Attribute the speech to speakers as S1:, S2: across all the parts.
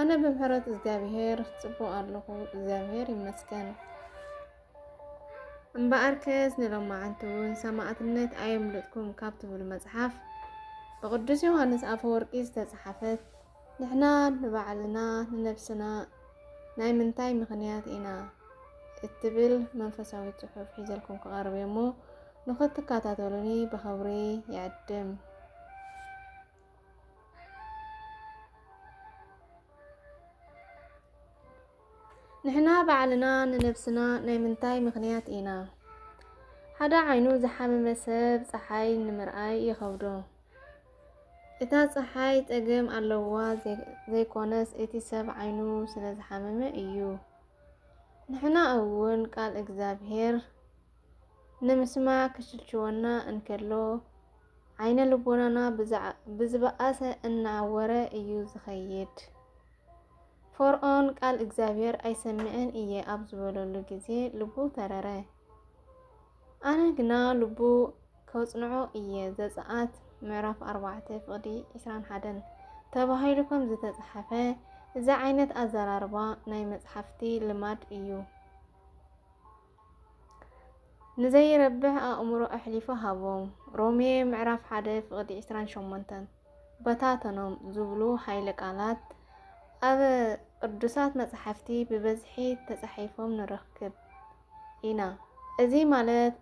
S1: ኣነ ብምሕረት እግዚኣብሄር ጽቡቕ ኣለኹ እግዚኣብሄር ይመስገን። እምበኣርከስ ንሎማዓንቲ እውን ሰማዕትነት ኣየምልጥኩም ካብ ትብል መጽሓፍ ብቅዱስ ዮሃንስ ኣፈወርቂ ዝተጽሓፈት ንሕና ንባዕልና ንነብስና ናይ ምንታይ ምኽንያት ኢና እትብል መንፈሳዊ ጽሑፍ ሒዘልኩም ክቐርብ እሞ ንኽትከታተሉኒ ብኸብሪ ይዕድም። ንሕና ባዕልና ንነብስና ናይ ምንታይ ምኽንያት ኢና? ሓደ ዓይኑ ዝሓመመ ሰብ ጸሓይ ንምርኣይ ይኸብዶ። እታ ጸሓይ ጸገም ኣለዋ ዘይኮነስ እቲ ሰብ ዓይኑ ስለዝሓመመ እዩ። ንሕና እውን ቃል እግዚኣብሔር ንምስማዕ ክሽልችወና እንከሎ፣ ዓይነ ልቦናና ብዝበኣሰ እናዓወረ እዩ ዝኸይድ። ፎርኦን ቃል እግዚኣብሔር ኣይሰምዕን እየ ኣብ ዝበለሉ ግዜ ልቡ ተረረ። ኣነ ግና ልቡ ከጽንዖ እየ ዘጸኣት ምዕራፍ 4 ፍቕዲ 21 ተባሂሉ ከም ዝተጽሓፈ እዚ ዓይነት ኣዘራርባ ናይ መጽሓፍቲ ልማድ እዩ። ንዘይረብሕ ኣእምሮ ኣሕሊፉ ሃቦም። ሮሜ ምዕራፍ ሓደ ፍቕዲ ዕስራን ሸሞንተን በታተኖም ዝብሉ ኃይለ ቃላት ኣብ ቅዱሳት መጽሓፍቲ ብበዝሒ ተጻሒፎም ንረክብ ኢና። እዚ ማለት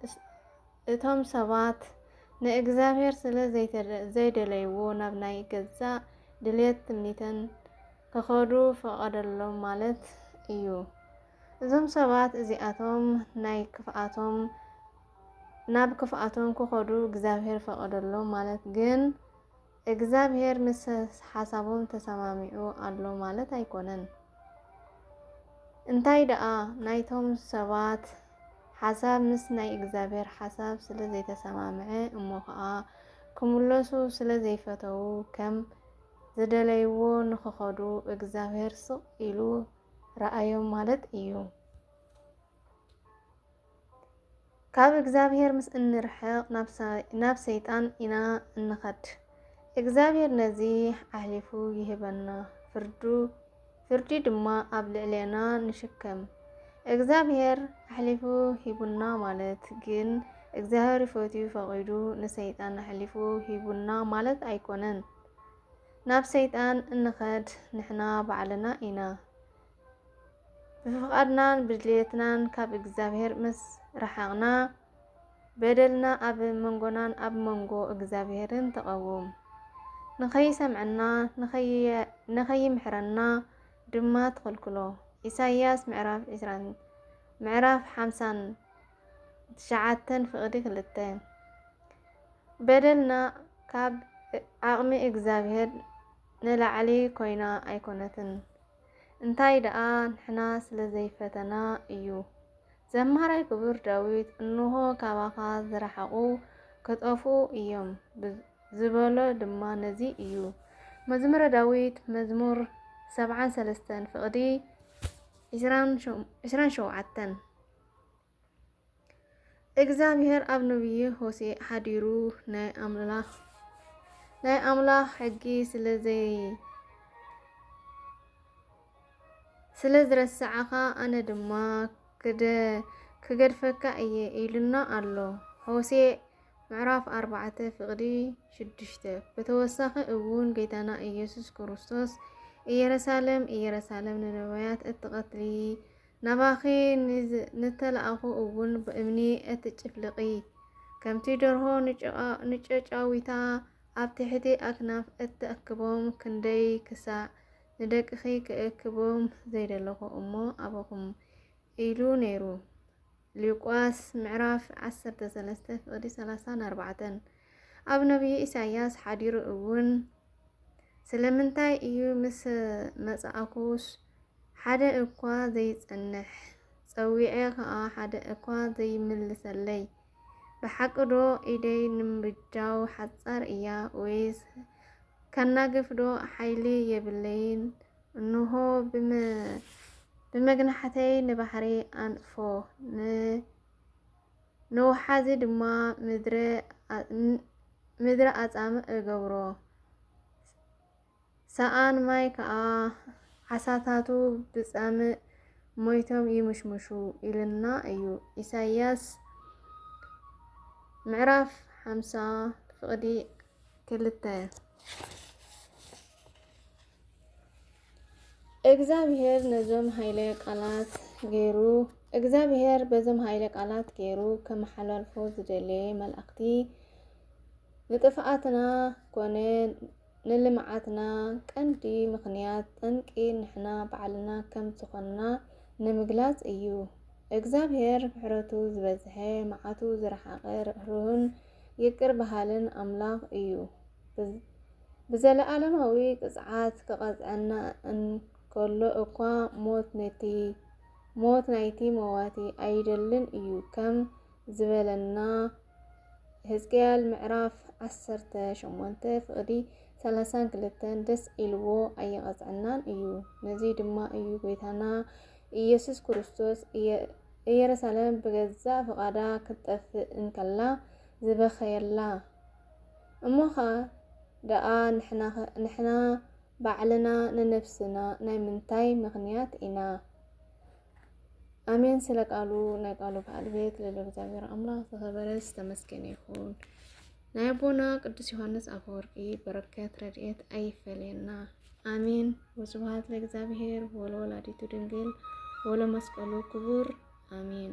S1: እቶም ሰባት ንእግዚኣብሔር ስለ ዘይደለይዎ ናብ ናይ ገዛእ ድልየት ትምኒተን ክኸዱ ፈቐደሎም ማለት እዩ። እዞም ሰባት እዚኣቶም ናይ ክፍኣቶም ናብ ክፍኣቶም ክኸዱ እግዚኣብሔር ፈቐደሎም ማለት ግን እግዚኣብሔር ምስ ሓሳቦም ተሰማሚዑ ኣሎ ማለት ኣይኮነን። እንታይ ደኣ ናይቶም ሰባት ሓሳብ ምስ ናይ እግዚኣብሔር ሓሳብ ስለ ዘይተሰማምዐ እሞ ከዓ ክምለሱ ስለ ዘይፈተዉ ከም ዝደለይዎ ንክኸዱ እግዚኣብሔር ስቕ ኢሉ ረኣዮም ማለት እዩ። ካብ እግዚኣብሔር ምስ እንርሕቕ ናብ ሰይጣን ኢና እንኸድ። እግዚኣብሔር ነዚ ኣሕሊፉ ይህበና፣ ፍርዱ ፍርዲ ድማ ኣብ ልዕሌና ንሽከም። እግዚኣብሔር ኣሕሊፉ ሂቡና ማለት ግን እግዚኣብሔር ፈትዩ ፈቒዱ ንሰይጣን ኣሕሊፉ ሂቡና ማለት ኣይኮነን። ናብ ሰይጣን እንኸድ ንሕና ባዕልና ኢና። ብፍቓድናን ብድልየትናን ካብ እግዚኣብሔር ምስ ረሓቕና፣ በደልና ኣብ መንጎናን ኣብ መንጎ እግዚኣብሔርን ተቐውም። ንኸይሰምዐና ንኸይምሕረና ድማ ትኽልክሎ። ኢሳይያስ ምዕራፍ ዕስራን ምዕራፍ ሓምሳን። ትሽዓተን ፍቅዲ ክልተ በደልና ካብ ዓቅሚ እግዛብሄር ንላዕሊ ኮይና ኣይኮነትን እንታይ ደኣ ንሕና ስለ ዘይፈተና እዩ ዘማራይ ክቡር ዳዊት እንሆ ካባኻ ዝረሓቁ ክጠፍኡ እዮም ዝበሎ ድማ ነዚ እዩ መዝሙረ ዳዊት መዝሙር ሰብዓን ሰለስተን ፍቅዲ ዕስራን ሸውዓተን እግዚኣብሔር ኣብ ነብዪ ሆሴዕ ሓዲሩ ናይ ኣምላኽ ሕጊ ስለ ዝረሳዕካ ኣነ ድማ ክገድፈካ እየ ኢሉና ኣሎ ሆሴዕ ምዕራፍ ኣርባዕተ ፍቅዲ ሽዱሽተ ብተወሳኺ እውን ጌታና ኢየሱስ ክርስቶስ ኢየሩሳሌም ኢየሩሳሌም ንነቢያት እትቐትሊ ናባኺ ንዝተላእኩ እውን ብእምኒ እትጭፍልቒ፣ ከምቲ ደርሆ ንጨጫዊታ ኣብ ትሕቲ ኣክናፍ እትእክቦም ክንደይ ክሳዕ ንደቅኺ ክእክቦም ዘይደለኹ እሞ ኣበኹም ኢሉ ነይሩ። ሉቃስ ምዕራፍ ዓሰርተ ሰለስተ ፍቕዲ ሰላሳን ኣርባዕተን ኣብ ነቢይ ኢሳይያስ ሓዲሩ እውን ስለምንታይ እዩ ምስ መጻእኩስ ሓደ እኳ ዘይጸንሕ፣ ጸዊዔ ከኣ ሓደ እኳ ዘይምልሰለይ፣ ብሓቂ ዶ ኢደይ ንምብጃው ሓጻር እያ ወይስ ከናግፍ ዶ ሓይሊ የብለይን፣ እንሆ ብመግናሕተይ ንባሕሪ ኣንጽፎ፣ ንውሓዚ ድማ ምድረ ኣጻምእ እገብሮ። ሰኣን ማይ ከኣ ዓሳታቱ ብጸምእ ሞይቶም ይምሽምሹ ኢልና እዩ ኢሳይያስ ምዕራፍ ሓምሳ ፍቕዲ ክልተ እግዚኣብሔር ነዞም ሃይለ ቃላት ገይሩ እግዚኣብሔር በዞም ሃይለ ቃላት ገይሩ ከመሓላልፎ ዝደለየ መልእኽቲ ንጥፍኣትና ኮነ ንልምዓትና ቀንዲ ምኽንያት ጠንቂ ንሕና ባዕልና ከም ዝኾንና ንምግላጽ እዩ። እግዝኣብሄር ምሕረቱ ዝበዝሐ፣ መዓቱ ዝረሓቐ፣ ርህሩህን ይቅር በሃልን ኣምላኽ እዩ። ብዘለኣለማዊ ቅጽዓት ክቐጽዐና እንከሎ እኳ ሞት ናይቲ መዋቲ ኣይደልን እዩ ከም ዝበለና፣ ሕዝቅኤል ምዕራፍ ዓሰርተ ሸሞንተ ፍቕዲ ሰላሳን ክልተን ደስ ኢልዎ ኣይቐጽዐናን እዩ። ነዚ ድማ እዩ ጐይታና ኢየሱስ ክርስቶስ ኢየሩሳሌም ብገዛእ ፍቓዳ ክትጠፍእ እንከላ ዝበኸየላ። እሞ ኸኣ ደኣ ንሕና ባዕልና ንነፍስና ናይ ምንታይ ምኽንያት ኢና ኣሜን ስለ ቃሉ ናይ ቃሉ በዓል ቤት ልዑል እግዚኣብሔር ኣምላኽ ዝኸበረ ዝተመስገነ ይኹን። ናይ ኣቦና ቅዱስ ዮሐንስ አፈወርቂ በረከት ረድኤት ኣይፈለየና። አሜን። ወስብሐት ለእግዚአብሔር ወለወላዲቱ ድንግል ወለመስቀሉ ክቡር አሜን።